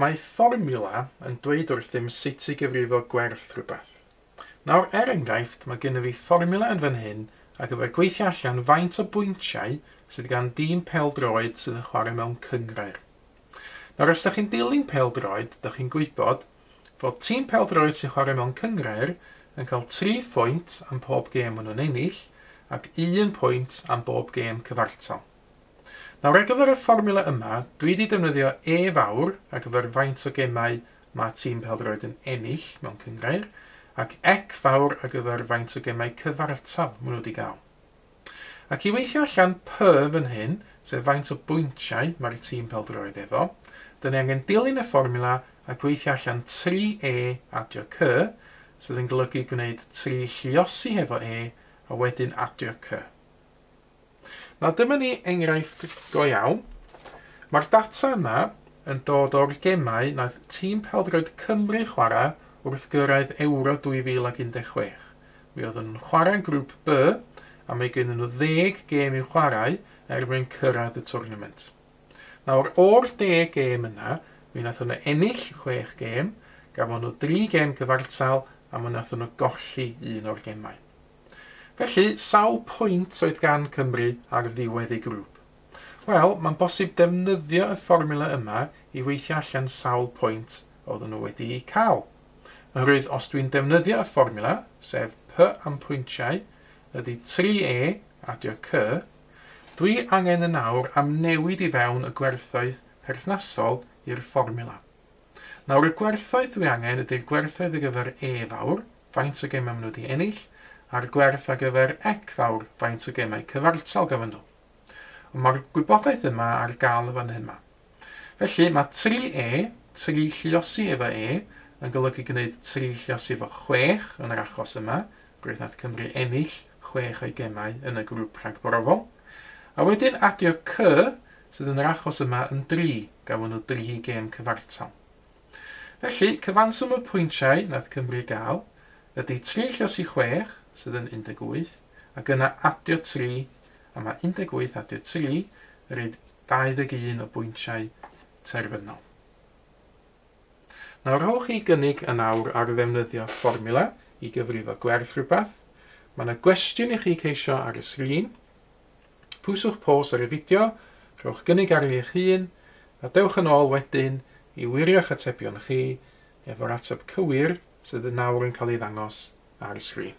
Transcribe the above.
Mae fformiwla yn dweud wrthym sut i gyfrifo gwerth rhywbeth. Nawr, er enghraifft, mae gennym fi fformiwla yn fan hyn ar gyfer gweithio allan faint o bwyntiau sydd gan dîm pêl-droed sydd yn chwarae mewn cynghrair. Nawr, os ydych chi'n dilyn pêl-droed, ydych chi'n gwybod fod tîm pêl-droed sy'n chwarae mewn cynghrair yn cael tri phwynt am pob gêm maen nhw'n ennill ac un pwynt am bob gêm cyfartal. Nawr, ar gyfer y fformula yma, dwi wedi defnyddio E fawr ar gyfer faint o gemau mae tîm pêl-droed yn ennill mewn cynghrair, ac Ec fawr ar gyfer faint o gemau cyfartal maen nhw wedi cael. Ac i weithio allan py fan hyn, sef faint o bwyntiau mae'r tîm pêl-droed efo, dyn ni angen dilyn y fformula a gweithio allan tri E adio Cy, sydd yn golygu gwneud tri lluosi hefo E a wedyn adio Cy. Na dyma ni enghraifft go iawn. Mae'r data yma yn dod o'r gemau wnaeth tîm pêl-droed Cymru chwarae wrth gyrraedd Euro 2016. Mi oedd yn chwarae yn Grŵp B a mae gennyn nhw ddeg gêm i'w chwarae er mwyn cyrraedd y twrnament. Nawr, o'r deg gêm yna, mi wnaethon nhw ennill chwech gêm, gafon nhw dri gêm cyfartal a mi wnaethon nhw golli un o'r gemau. Felly, sawl pwynt oedd gan Cymru ar ddiwedd ei grŵp? Wel, mae'n bosib defnyddio y fformula yma i weithio allan sawl pwynt oedden nhw wedi'u cael. Yr oedd os dwi'n defnyddio y fformiwla, sef P am pwyntiau ydy 3E adio C, dwi angen yn awr am newid i fewn y gwerthoedd perthnasol i'r fformiwla. Nawr y gwerthoedd dwi angen ydy'r gwerthoedd ar gyfer E fawr, faint o gemau maen nhw wedi ennill, a'r gwerth ar gyfer Ec fawr, faint o gemau cyfartal gafon nhw. Ond mae'r gwybodaeth yma ar gael yn fan hyn ma. Felly, mae tri e, tri lluosi efo e, yn golygu gwneud tri lluosi efo chwech yn yr achos yma, roedd nath Cymru ennill chwech o'i gemau yn y grŵp rhagbrofol. A wedyn adio cy, sydd yn yr achos yma yn dri, gafon nhw dri gêm cyfartal. Felly, cyfanswm y pwyntiau nath Cymru gael ydy tri lluosi chwech, sydd yn 18, ac yna adio tri, a mae 18 adio tri, yr un 21 o bwyntiau terfynol. Nawr rhowch chi gynnig yn awr ar ddefnyddio fformula i gyfrifo gwerth rhywbeth. Mae yna gwestiwn i chi ceisio ar y sgrin. Pwyswch pos ar y fideo, rhowch gynnig arni eich hun, a dewch yn ôl wedyn i wirio'ch atebion chi efo'r ateb cywir sydd yn nawr yn cael ei ddangos ar y sgrin.